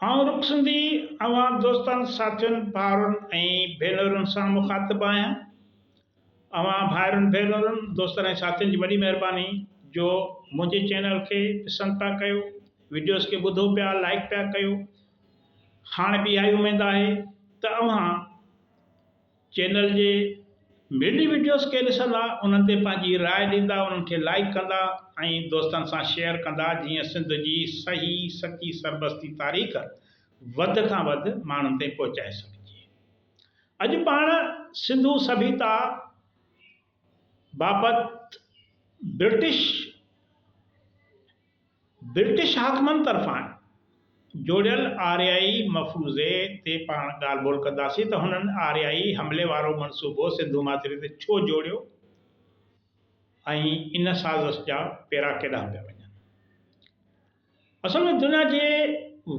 آئون رخ سنڌي اوهان دوستن، ساٿين، ڀائرن ۽ ڀينرن سان مخاطب آهيان. اوهان ڀائرن، ڀينرن، دوستن ۽ ساٿين جي وڏي مهرباني جو منهنجي چينل کي پسند پيا ڪيو، وڊيوز کي ٻڌو پيا، لائيڪ پيا ڪيو. هاڻ به اها ئي اميد آهي ته اوهان چينل جي ميڊي وڊيوز کي ڏسندا انهن تي پنهنجي راء ڏيندا انهن کي لائيڪ ڪندا ۽ دوستن سان شيئر ڪندا جيئن سنڌ جي صحيح سچي سربستي تاريخ وڌ کان وڌ ماڻهن تائين پهچائي سگهجي اڄ پاڻ سنڌو سڀيتا بابت برٽش برٽش حاڪمن طرفان جوڙيل آريائي مفروضي تي پاڻ ڳالهه ٻولهه ڪنداسين ته هنن آريائي حملي وارو منصوبو سنڌو ماٿري تي ڇو جوڙيو ۽ ان سازش جا پيرا ڪيڏانهن پيا وڃن. اصل ۾ دنيا جي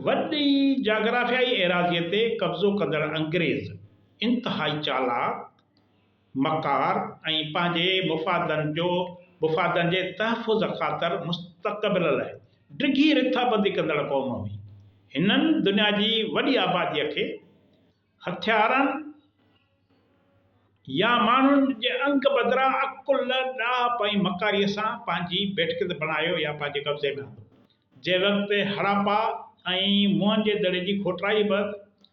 وڏي جاگرافيائي ايراضيء تي قبضو ڪندڙ انگريز انتهائي چالاڪ، مڪار ۽ پنهنجي مفادن جو مفادن جي تحفظ خاطر مستقبل لاء ڊگهي رٿابندي ڪندڙ قوم هئي. هنن دنيا جي وڏي آباديء کي هٿيارن يا ماڻهن جي انگ بدران عقل، ڏاهپ ۽ مڪاريء سان پنهنجي ڀيٽڪند بڻايو يا پنهنجي قبضي ۾ آندو. جنهن وقت هڙاپا ۽ موئن جي دڙي جي کوٽرائي بعد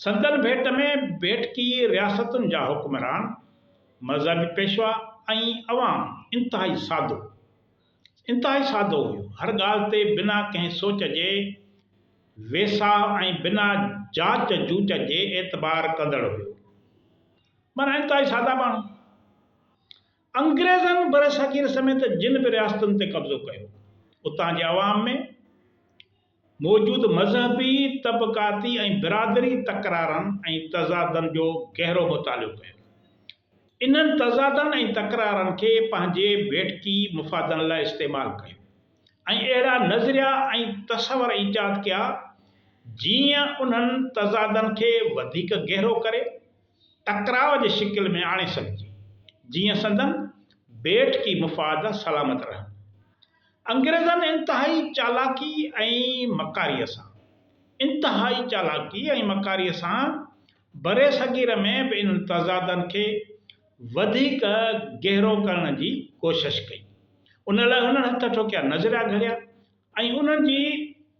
سندن ڀيٽ ۾ ڀيٽڪي رياستن جا حڪمران، مذهبي پيشوا ۽ عوام انتهائي سادو انتهائي سادو هيو. هر ڳالهه تي بنا ڪنهن سوچ جي ويساهه ۽ بنا جاچ جوچ جي اعتبار ڪندڙ هيو. معنيٰ انتهائي سادا ماڻهو. انگريزن برصغير سميت جن به رياستن تي قبضو ڪيو، اتان جي عوام ۾. موجود مذهبي، طبقاتي ۽ برادري تڪرارن ۽ تضادن جو گهرو مطالعو ڪيو. انهن تضادن ۽ تڪرارن کي پنهنجي ڀيٽڪي مفادن لاء استعمال ڪيو ۽ اهڙا نظريا ۽ تصور ايجاد ڪيا، جيئن انهن تضادن کي وڌيڪ گهرو ڪري، ٽڪراء جي شڪل ۾ آڻي سگهجي، جيئن سندن ڀيٽڪي مفاد سلامت رهن. انگريزن انتهائي چالاڪي ۽ مڪاريء سان، انتهائي چالاڪي ۽ مڪاريء سان برصغير ۾ به انهن تضادن کي وڌيڪ گهرو ڪرڻ جي ڪوشش ڪئي. ان لاء هنن هٿ ٺوڪيا نظريا گهڙيا ۽ انهن جي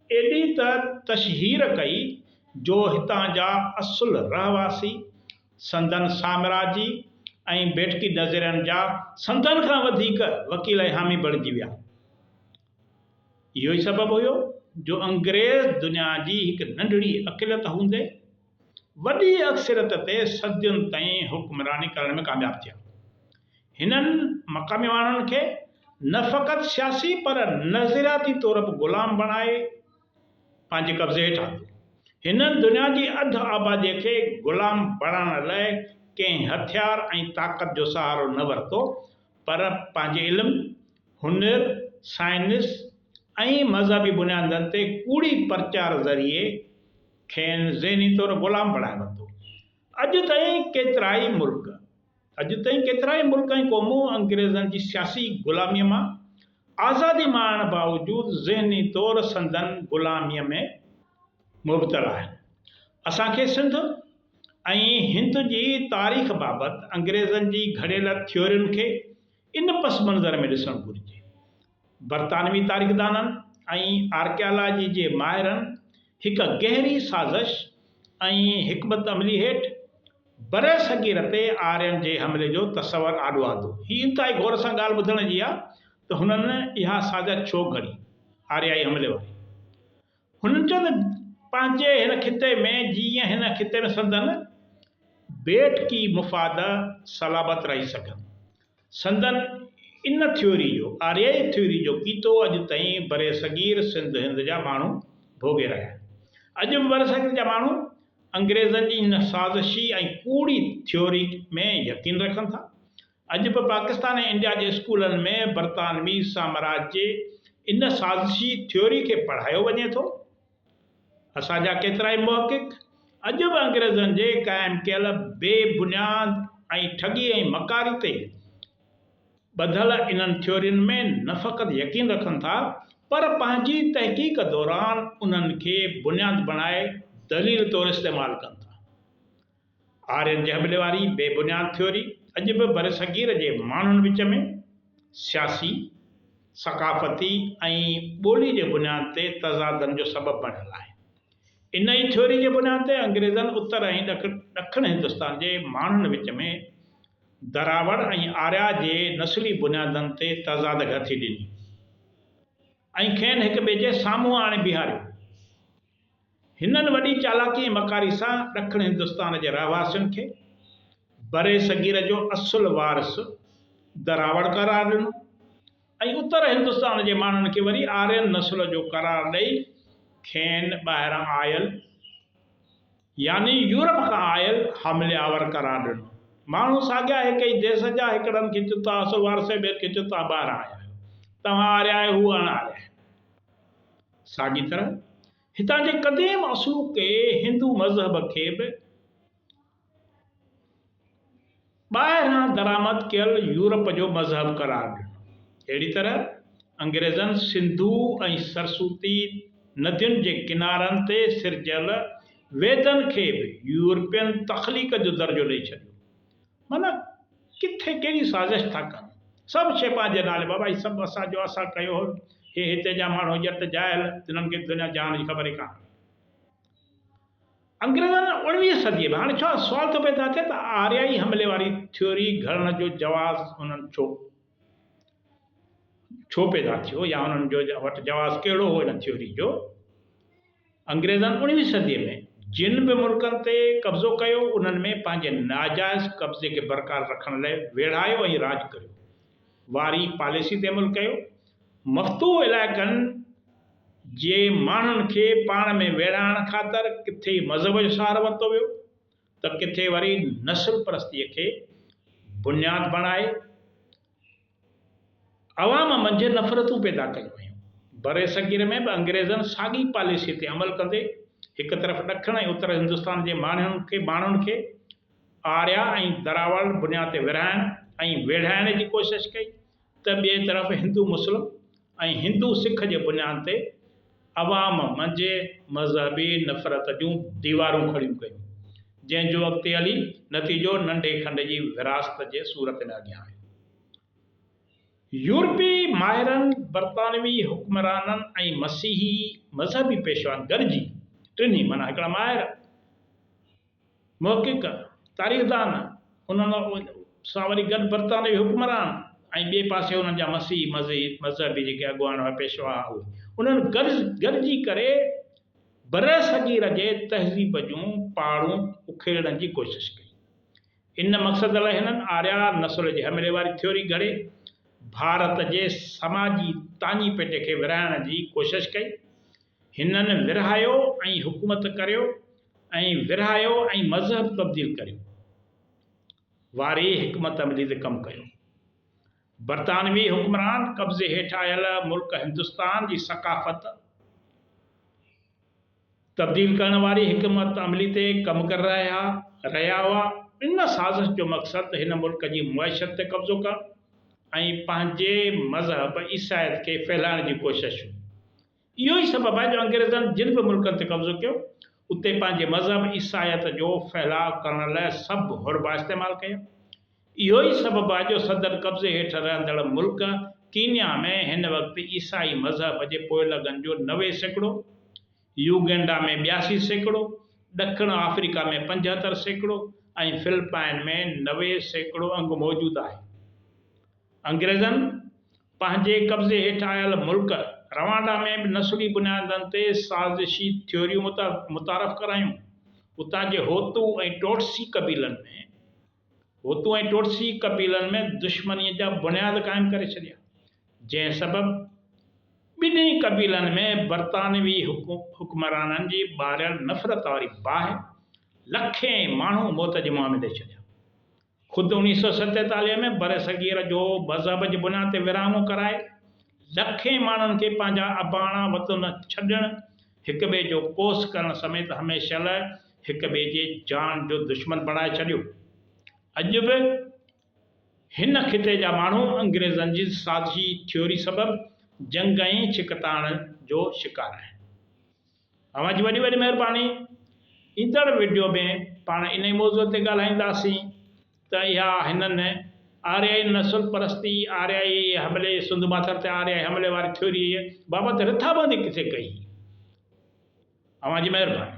ايڏي ته تشهير ڪئي جو هتان جا اصل رهواسي، سندن سامراجي ۽ بيٺڪي نظرين جا سندن کان وڌيڪ وڪيل ۽ حامي بڻجي ويا. اهو ئي سبب هيو جو انگريز دنيا جي هڪ ننڍڙي اقليت هوندي وڏي اڪثريت تي صدين تائين حڪمراني ڪرڻ ۾ ڪامياب ٿيا. هنن مقامي ماڻهن کي نه فقط سياسي پر نظرياتي طور به غلام بڻائي، پنهنجي قبضي هيٺ آندو. هنن دنيا جي اڌ آباديء کي غلام بڻائڻ لاء ڪنهن هٿيار ۽ طاقت جو سهارو نه ورتو، پر پنهنجي علم، هنر، سائنس ۽ مذهبي بنيادن تي ڪوڙي پرچار ذريعي کين ذهني طور غلام بڻائي ورتو. اڄ تائين ڪيترائي ملڪ. اڄ تائين ڪيترائي ملڪ ۽ قومون انگريزن جي سياسي غلاميء مان آزادي ماڻڻ باوجود ذهني طور سندن غلاميء ۾ مبتلا آهن. اسان کي سنڌ ۽ هند جي تاريخ بابت انگريزن جي گهڙيل ٿيورين کي ان پس منظر ۾ ڏسڻ گهرجي برطانوي تاريخدانن ۽ آرڪيالاجي جي ماهرن هڪ گهري سازش ۽ حڪمت عملي هيٺ برصغير تي آرين جي حملي جو تصور آڏو آندو. هي انتهائي غور سان ڳالهه ٻڌڻ جي آهي ته هنن اها سازش ڇو گهڙي؟ آريائي حملي واري هن چيو ته پنهنجي هن خطي ۾ جيئن هن خطي ۾ سندن بيٺڪي مفاد سلامت رهي سگهن. سندن ان ٿيوري جو، آريائي ٿيوري جو پيتو اڄ تائين برصغير سنڌ هند جا ماڻهو ڀوڳي رهيا آهن. اڄ به برصغير جا ماڻهو انگريزن جي هن سازشي ۽ ڪوڙي ٿيوري ۾ يقين رکن ٿا. اڄ به پاڪستان ۽ انڊيا جي اسڪولن ۾ برطانوي سامراج جي ان سازشي ٿيوري کي پڙهايو وڃي ٿو. اسان جا ڪيترائي محقق اڄ به انگريزن جي قائم ڪيل بي بنياد ۽ ٺڳي ۽ مڪاري تي ٻڌل انهن ٿيورين ۾ نه فقط يقين رکن ٿا پر پنهنجي تحقيق دوران انهن کي بنياد بڻائي دليل طور استعمال ڪن ٿا. آرين جي حملي واري بي بنياد ٿيوري اڄ به برصغير جي ماڻهن وچ ۾ سياسي، ثقافتي ۽ ٻولي جي بنياد تي تضادن جو سبب بڻيل آهي. ان ئي ٿيوري جي بنياد تي انگريزن اتر ۽ ڏکڻ هندستان جي ماڻهن وچ ۾ دراوڙ ۽ آريا جي نسلي بنيادن تي تضاد گهٿي ڏني ۽ کين هڪٻئي جي سامهون آڻي بيهاريو. هنن وڏي چالاڪي ۽ مڪاري سان ڏکڻ هندستان جي رهواسين کي برصغير جو اصل وارث دراوڙ قرار ڏنو ۽ اتر هندستان جي ماڻهن کي وري آرين نسل جو قرار ڏئي کين ٻاهران آيل يعني يورپ کان آيل حملي آور قرار ڏنو. ماڻهو ساڳيا هڪ ئي ديس جا هڪڙن کي چون توهان اصل وارث آهيو ٻين کي چون توهان ٻاهران آيا آهيو. توهان آريا آهيو هو اڻ آريا آهن. ساڳي طرح هتان جي قديم اصوڪي هندو مذهب کي به ٻاهران درآمد ڪيل يورپ جو مذهب قرار ڏنو. اهڙي طرح انگريزن سنڌو ۽ سرسوتي ندين جي ڪنارن تي سرجيل ويدن کي به يورپين تخليق جو درجو ڏئي ڇڏيو. معنيٰ ڪٿي ڪهڙي سازش ٿا ڪن. سڀ شيء پنهنجي نالي بابا هي سڀ اسان جو اسان ڪيو هو هي هتي جا ماڻهو ڄٽ جاهل تنهن کي دنيا جهان جي خبر ئي ڪانهي. انگريزن اوڻويهين صديء ۾ هاڻي ڇا سوال ٿو پيدا ٿئي ته آريائي حملي واري ٿيوري گهڙڻ جو جواز انهن ڇو ڇو پيدا ٿيو يا انهن جو وٽ جواز ڪهڙو هو ان ٿيوري جو انگريزن اڻويهين صديء ۾ جن به ملڪن تي قبضو ڪيو، انهن ۾ پنهنجي ناجائز قبضي کي برقرار رکڻ لاء ويڙهايو ۽ راڄ ڪريو واري پاليسي تي عمل ڪيو. مفتوح علائقن جي ماڻهن کي پاڻ ۾ ويڙهائڻ خاطر ڪٿي مذهب جو سهارو ورتو ويو ته ڪٿي وري نسل پرستيء کي بنياد بڻائي عوام منجهه نفرتون پيدا ڪيون ويون. برصغير ۾ به انگريزن ساڳي پاليسيء تي عمل ڪندي هڪ طرف ڏکڻ ۽ اتر هندستان جي ماڻهن کي آريا ۽ دراوڙ بنياد تي ورهائڻ ۽ ويڙهائڻ جي ڪوشش ڪئي ته ٻئي طرف هندو مسلم ۽ هندو سک جي بنياد تي عوام منجهه مذهبي نفرت جون ديوارون کڙيون ڪيون، جنهن جو اڳتي هلي نتيجو ننڍي کنڊ جي ورهاست جي صورت ۾ اڳيان آيو. يورپي ماهرن، برطانوي حڪمرانن ۽ مسيحي مذهبي پيشوائن گڏجي ٽنهي معنيٰ هڪڙا ماهر، محقق، تاريخدان، انهن سان وري گڏ برطانوي حڪمران ۽ ٻئي پاسي انهن جا مسيحي مذهب جيڪي اڳواڻ هئا، پيشوا هئا، انهن گڏجي ڪري برصغير جي تهذيب جون پاڙون اکيڙڻ جي ڪوشش ڪئي. ان مقصد لاء هنن آريا نسل جي حملي واري ٿيوري گهڙي ڀارت جي سماجي تاڃي پيٽي کي ورهائڻ جي ڪوشش ڪئي. هنن ورهايو ۽ حڪومت ڪريو ۽ ورهايو ۽ مذهب تبديل ڪريو واري حڪمت عملي تي ڪم ڪيو. برطانوي حڪمران قبضي هيٺ آيل ملڪ هندستان جي ثقافت تبديل ڪرڻ واري حڪمت عملي تي ڪم ڪري رهيا رهيا هئا. ان سازش جو مقصد هن ملڪ جي معيشت تي قبضو ڪرڻ ۽ پنهنجي مذهب عيسائيت کي ڦهلائڻ جي ڪوشش هئي. اهو ئي سبب آهي جو انگريزن جن به ملڪن تي قبضو ڪيو، اتي پنهنجي مذهب عيسائيت جو ڦهلاء ڪرڻ لاء سڀ حربا استعمال ڪيا. اهو ئي سبب آهي جو سندن قبضي هيٺ رهندڙ ملڪ ڪينيا ۾ هن وقت عيسائي مذهب جي پوئلڳن جو نوي سيڪڙو، يوگينڊا ۾ ٻياسي سيڪڙو، ڏکڻ آفريڪا ۾ پنجهتر سيڪڙو ۽ فلپائن ۾ نوي سيڪڙو انگ موجود آهي. انگريزن پنهنجي قبضي هيٺ آيل ملڪ روانڊا ۾ به نسلي بنيادن تي سازشي ٿيوريون متعارف ڪرايون. اتان جي هوتو ۽ ٽوٽسي قبيلن ۾ هوتو ۽ ٽوٽسي قبيلن ۾ دشمنيء جا بنياد قائم ڪري ڇڏيا، جنهن سبب ٻنهي قبيلن ۾ برطانوي حڪمرانن جي ٻاريل نفرت واري باهه لکين ماڻهو موت جي منهن ۾ ڏئي ڇڏيا. خود اوڻيھ سئو ستيتاليھ ۾ برصغير جو مذهب جي بنا تي ورهاڱو ڪرائي لکين ماڻهن کي پنهنجا اباڻا وطن ڇڏڻ، هڪ ٻئي جو ڪوس ڪرڻ سميت هميشه لاء هڪ ٻئي جي جان جو دشمن بڻائي ڇڏيو. اڄ به هن خطي جا ماڻهو انگريزن جي سازشي ٿيوري سبب جنگ ۽ ڇڪتاڻ جو شڪار آهن. اوهان جي وڏي وڏي مهرباني. ايندڙ وڊيو ۾ پاڻ انهي موضوع تي ڳالهائينداسين ته اها هنن آريائي نسل پرستي، آريائي حملي، سنڌ ماٿر تي آريائي حملي واري ٿيوريء بابت رٿابندي ڪٿي ڪئي هئي. اوهان جي مهرباني.